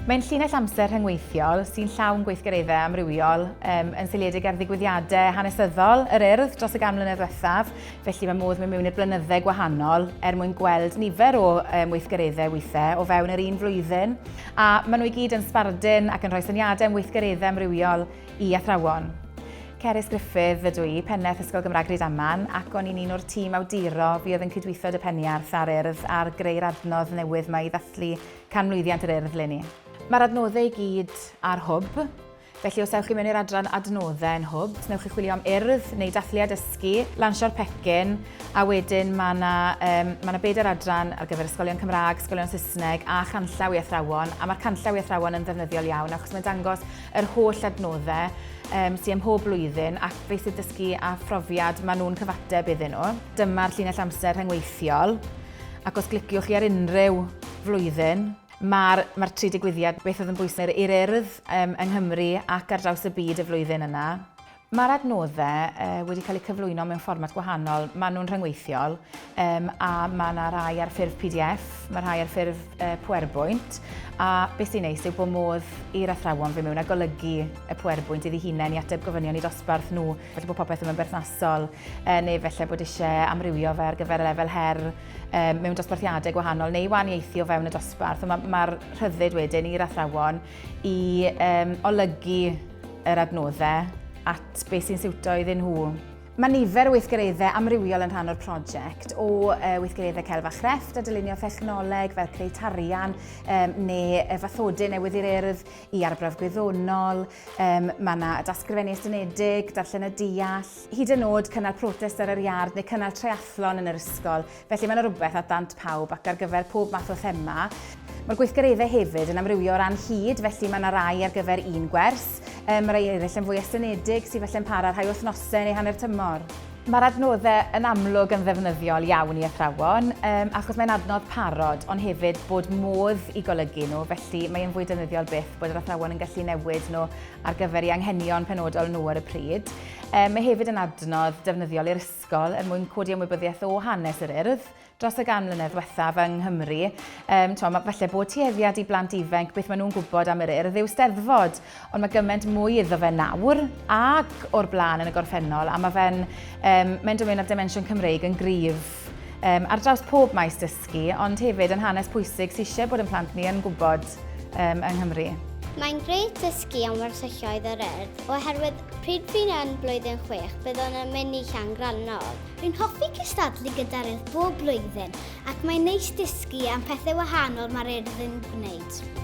Mae'n llinell amser rhyngweithiol sy'n llawn gweithgareddau amrywiol um, yn seiliedig ar ddigwyddiadau hanesyddol yr urdd dros y gan mlynedd ddiwethaf, felly mae modd mynd mewn i'r blynyddau gwahanol er mwyn gweld nifer o um, weithgareddau weithiau o fewn yr un flwyddyn. A maen nhw i gyd yn sbardun ac yn rhoi syniadau am weithgareddau amrywiol i athrawon. Cerys Griffith ydw i, pennaeth Ysgol Gymraeg Rydaman, ac o'n i'n un o'r tîm awduro fuodd yn cydweithio dy Peniarth a'r Urdd ar greu'r adnodd newydd 'ma i ddathlu canmlwyddiant yr Urdd 'leni. Mae'r adnoddau i gyd ar Hwb. Felly os ewch chi mewn i'r adran adnoddau yn Hwb, os wnewch chi chwilio am urdd neu dathlu a dysgu, lansio'r pecyn, a wedyn mae yna, um, mae yna bedair adran ar gyfer ysgolion Cymraeg, ysgolion Saesneg a chanllaw i athrawon, a mae'r canllaw i athrawon yn ddefnyddiol iawn achos mae'n dangos yr holl adnoddau um, sy'n ymhob blwyddyn ac beth sydd dysgu a phrofiad maen nhw'n cyfateb iddyn nhw. Dyma'r llinell amser rhyngweithiol ac os gliciwch chi ar unrhyw flwyddyn, Mae'r mae'r tri digwyddiad, beth oedd yn bwysig i'r Urdd yng Nghymru ac ar draws y byd y flwyddyn yna. Mae'r adnoddau wedi cael eu cyflwyno mewn fformat gwahanol. Maen nhw'n rhyngweithiol um, a mae yna rhai ar ffurf PDF, mae rhai ar ffurf uh, PowerPoint, a beth sy'n neis yw bod modd i'r athrawon fe mewn a golygu y PowerPoint iddi hunain i ateb gofynion i dosbarth nhw, felly bod popeth yn berthnasol, uh, neu felly bod eisiau amrywio fe ar gyfer y lefel her, um, mewn dosbarthiadau gwahanol neu waniaethu o fewn y dosbarth. Mae'r ma, rhyddid wedyn i'r athrawon i um, olygu yr adnoddau at beth sy'n siwto iddyn nhw. Mae nifer o weithgareddau amrywiol yn rhan o'r prosiect, o uh, weithgareddau celf a chrefft a dylunio thechnoleg fel creu tarian um, neu fathodau newydd i'r urdd i arbrawf gwyddonol. Um, mae yna dasgrifennu estynedig, darllen y deall, hyd yn nod cynnal protest ar yr iard neu cynnal triathlon yn yr ysgol, felly mae yna rywbeth at ddant pawb ac ar gyfer pob math o thema. Mae'r gweithgareddau hefyd yn amrywio o ran hyd, felly mae yna rai ar gyfer un gwers, um, mae rai eraill yn fwy estynedig sydd felly'n para rhai wythnosau neu hanner tymor. Mae'r adnoddau yn amlwg yn ddefnyddiol iawn i athrawon, um, achos mae'n adnodd parod, ond hefyd bod modd i golygu nhw, felly mae'n fwy defnyddiol byth bod yr athrawon yn gallu newid nhw ar gyfer ei anghenion penodol nhw ar y pryd. Mae hefyd yn adnodd defnyddiol i'r ysgol er mwyn codi ymwybyddiaeth o hanes yr Urdd dros y gan mlynedd diwethaf yng Nghymru. Um, to, mae falle bod tueddiad i blant ifanc beth maen nhw'n gwybod am yr Urdd yw steddfod, ond mae gymaint mwy iddo fe nawr ac o'r blaen yn y gorffennol, a mae fe'n um, mynd ymwneud â'r dimensiwn Cymreig yn gryf um, ar draws pob maes dysgu. dysgu, ond hefyd yn hanes pwysig sydd eisiau bod yn plant ni yn gwybod um, yng Nghymru. Mae'n grêt dysgu am wersylloedd yr urdd, oherwydd pryd fi'n yn blwyddyn chwech, byddwn yn mynd i Llan Grannog. Rwy'n hoffi cystadlu gyda'r urdd bob blwyddyn, ac mae'n neis dysgu am pethau wahanol mae'r urdd yn gwneud.